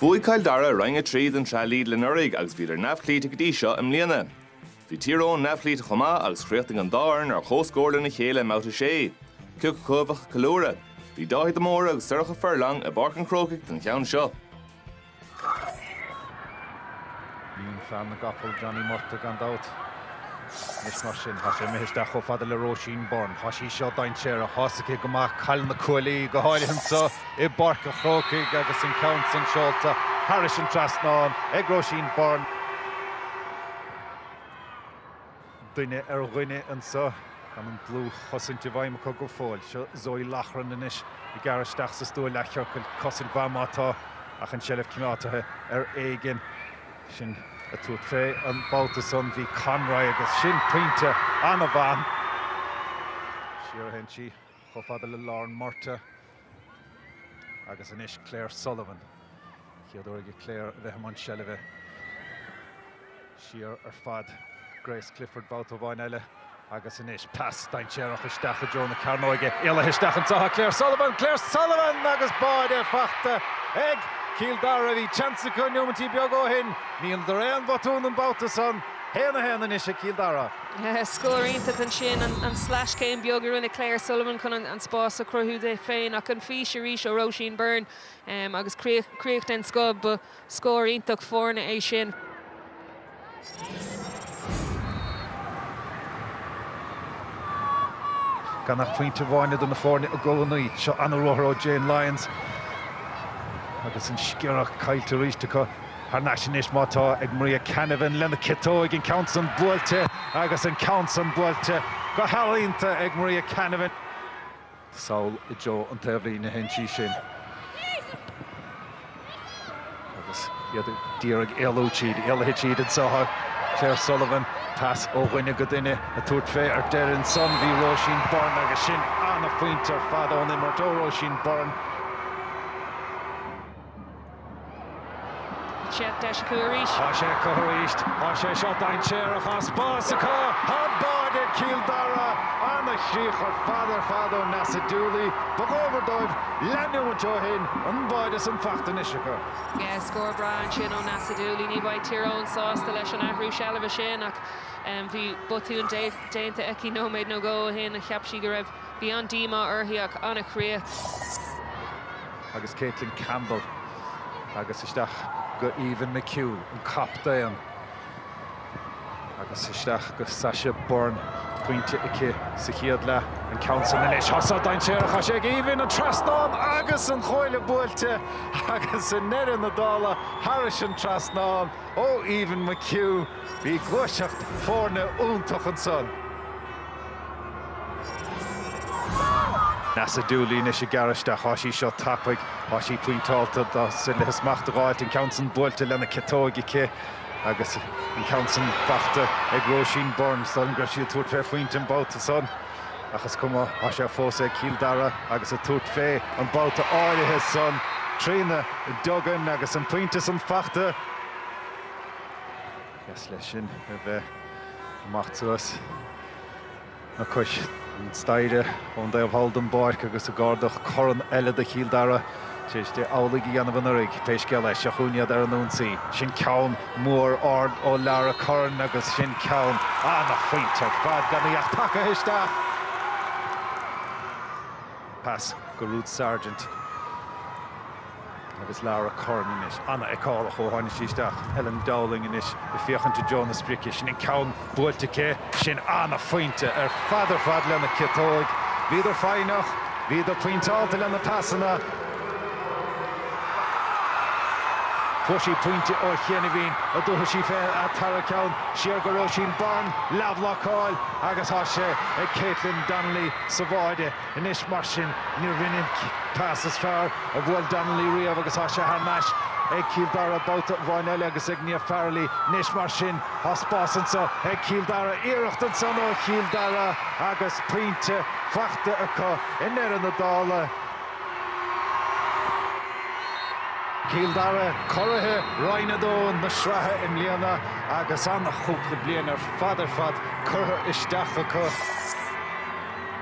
Bhuaigh Cill Dara Roinn 3 den tSraith Lidl anuraidh agus bhíodar neamhchloíte go dtí seo i mbliana. Bhí Tír Eoghain neamhchloíte chomh maith agus chríochnaigh an dá fhoireann ar chomhscór lena chéile i mBabhta 6. Cé acu a bheadh ag ceiliúradh? Bhí Dáithí de Mórdha agus Sorcha Furlong i bPáirc an Chrócaigh don cheann seo. Iníon fear na gcapall, Johnny Murtagh, gan dabht. Anois mar sin, tá sé imithe isteach chomh fada le Róisín Byrne. Tá sí seo dainséarach. Tá a fhios aici go maith cá bhfuil na cuaillí, go háirithe anseo i bPáirc an Chrócaigh agus an ceann san seolta thairis an trasnán ag Róisín Byrne. duine ar dhuine annso. Tá an dlúth-chosaint i bhfeidhm acu go fóill. Seo Zoe Loughran anois ag gearradh isteach sa stua leath-chiorcail. Cosaint mhaith má tá, ach an tseilbh coimeádta ar éigin. Sin ag tabhairt fé an babhta san. Bhí Conroy agus sin pointe ana-mhaith. Siar a théann sí, chomh fada le Lauren Murtagh. Agus anois Claire Sullivan. Chéad uair ag Claire a bheith i mbun seilbhe. Siar ar fad. Grace Clifford babhta amháin eile. Agus anois pas dainséarach isteach i dtreo na cearnóige. Éalaithe isteach anseo atá Claire Sullivan. Claire Sullivan agus báide faighte ag Cill Dara. Bhí tseans acu neomaintí beaga ó shin. Níor dheineadar aon bhotún an babhta san. 1 a 1 anois ag Cill Dara. Scór iontach ansin an sleaschéim beag a rinne Claire Sullivan chun an spás a chruthú di féin ach an fhís arís ó Róisín Byrne agus críoch den scoth. Ba scór iontach foirne é sin. Gan ach pointe amháin idir na foirne i gcónaí. Seo an-ruathar ó Jane Lyons agus an sciorradh caillte arís acu. Thar n-ais anois má tá ag Maria Canavan lena ciotóig, an ceann san buailte agus an ceann san buailte go healaíonta ag Maria Canavan. Sall i dtreo an taobhlíne a théann sí sin agus iad ag d'iarraidh éalú tríd. Éalaithe tríd anseo atá Claire Sullivan. Pas ó dhuine go duine ag tabhairt fé ar deireadh ansan. Bhí Róisín Byrne agus sin an-phointe ar fad ón imirt ó Róisín Byrne. Tá sé deis acu arís. Tá sé acu arís. Tá sé seo dainséarach tá spás acu. Tá báide ag Cill Dara. Ana chríoch ar fad ar fad ó Neasa Dooley. Ba dhóbair dóibh neomaintí ó shin. An báide san faighte anois acu. Scór breá ansin ó Neasa Dooley. Ní bheidh Tír Eoghain sásta leis an athrú seilbhe sin ach bhí botún déanta aici nóiméad nó dhó ó shin. Cheap sí go raibh. Bhí an-díomá uirthi ach ana chríoch. agus Caitlin Campbell agus isteach go Aoibhinn McHugh, an captaen, agus isteach go Sasha Byrne, pointe aici sa chéad leath, an ceann san anois, thá san dainséarach, thá sé ag Aoibhinn, an trasnán agus an chuaille buailte agus i ndeireadh na dála thairis an trasnán ó Aoibhinn McHugh, bhí gluaiseacht foirne iontach ansan. Neasa Dooley anois ag gearradh isteach. Thá sí seo tapaidh. Thá sí pointeálta. Tá sí le smacht a dh'fháilt. An ceann san buailte lena ciotóig aici agus an ceann san fachta ag Róisín Byrne. Is dóigh liom go raibh sí ag tabhairt fé phointe an babhta san. Ach is cuma. Thá sé fós ag Cill Dara agus ag tabhairt fé an babhta áirithe san. Trina Duggan agus an pointe san fachta. Is leis sin a bheith ag imeacht suas le cois an staighre ón dtaobh thall den bpáirc agus ag ardach corn eile do Chill Dara tar éis di amhlaidh a dhéanamh anuraidh. Pé scéal é, seo chugainn iad ar an ionsaí. Sin ceann mór ard ó Lara Curran agus sin ceann an-phointe ar fad gan í ach tagtha isteach. Pas go Ruth Sargent. Agus Lara Curran anois. An-fheiceálach ó tháini' sí isteach. Ellen Dowling anois ag féachaint i dtreo na sprice. Sin an ceann buailte aici. Sin an-phointe ar fad ar fad lena ciotóig. Bhíodar foighneach, bhíodar pointeálta lena pasanna. Fuair sí pointe ó chianaibhín, an dtabharfaidh sí fé an tara ceann siar go Róisín Byrne. Leathbhlocáil agus thá sé ag Caitlin Donnelly sa bháide. Anois mar sin, níorbh in é an pas is fearr a bhuail Donnelly riamh agus thá sé thar n-ais ag Cill Dara babhta amháin eile agus ag Niamh Farrelly. Anois mar sin, thá spás annso ag Cill Dara. Iarracht ansan ó Chill Dara agus pointe fachta acu i ndeireadh na dála. Cill Dara, curaithe Roinn a Dó na sraithe i mbliana agus an-chúpla bliain ar fad ar fad curtha isteach acu.